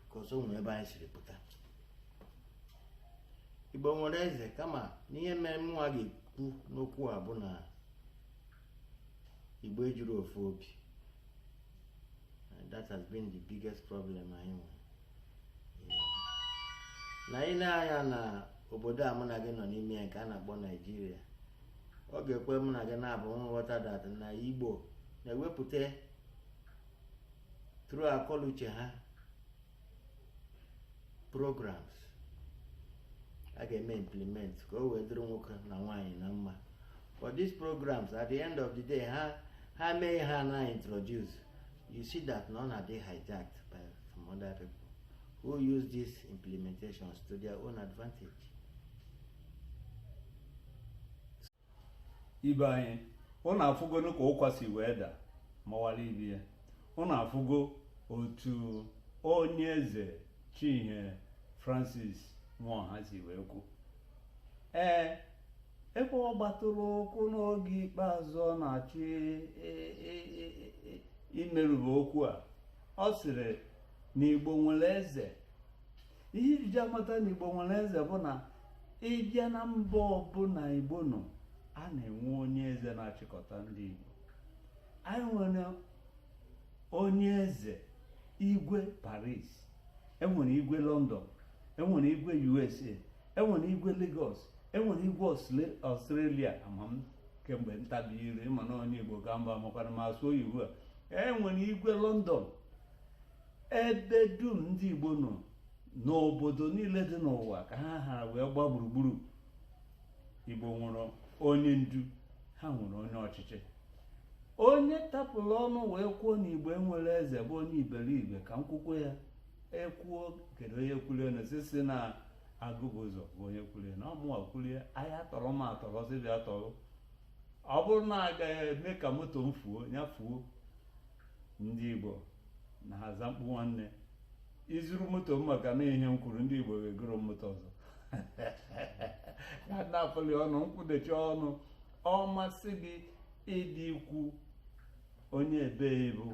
because o nwere ebe anyị siri pụta igbo nwere eze kama n'ihe mere mụnwa ga-ekwu n'okwu a bụ na igbo ejiro ofu obi that has been the biggest problem anyị nwere na i nee anya na obodo a mụ na gị nọ n'ime ya nke a na-akpọ naijiria ọ ga-ekwe mụ na gị naabọ nghọta that na igbo na-ewepụta through akọluche ha programs a ga-eme implement ka o wee dịrị nwoke na nwaanyị na mma but these programs at the end of the day ha mee ha na introduce you see that na ọ na-adị hijacked by some other people who use these implementations to their own advantage ibe anyị ụnụ afụgonu ka ụkwa si wee da mawara ibe ya ụnụ afụgo otu onye eze Chief Francis Nwaoha si wee kwu ee ebe ọ gbatụrụ ụkwụ n'oge ikpeazụ ọ na-achọ imerube okwu a ọ sịrị na Igbo nwere eze ihe e ji amata na igbo nwere eze bụ na ị bịa na mba ọbụla igbo nọ a na-enwe onye eze na-achịkọta ndị igbo anyị nwere onye eze igwe paris enwere igwe london enwere igwe usa enwere igwe lagos enwere igwe australia ama m kemgbe ntabi ire ị ma na onye igbo ga mba makwana ma asụ oyibo a enwere igwe london ebe dum ndị Igbo nọ n'obodo niile dị n'ụwa ka ha hara wee gba gburugburu Igbo nwere onye ndu ha nwere onye ọchịchị onye tapụrụ ọnụ wee kwuo na igbo enwero eze bụ onye iberibe ka m kwukwuo ya ekwuo kedu onye kwuru ya na osisi na agụbụ ụzọ be onye kwuru ya na ọ mụwa kwuru ya a ya-atọrọ m atọrọ sị bịa tọrọ ọ bụrụ na a ga-eme ka moto m fuo ya fuo ndị Igbo na-aza mkpu nwanne i zuru moto m maka na ihe m kwuru ndị Igbo ga-egoro m moto ọzọ ya na-apụli ọnụ nkwụdechi ọnụ ọ masị gị ịdị ikwu onye ebe ị bụ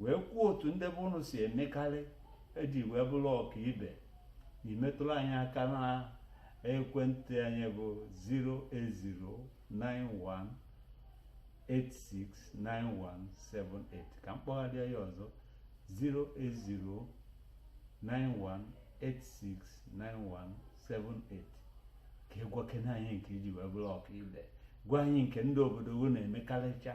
wee kwuo otu ndị be ụnụ si emekarị e ji wee bụrụ ọka ibe i metụrụ anyị aka na ekwentị anyị bụ 08091869178 ka m kpọgharịa ya ọzọ 08091869178 ka ị gwakene anyị nke i ji wee bụrụ ọka ibe gwa anyị nke ndị obodo unu na-emekarịcha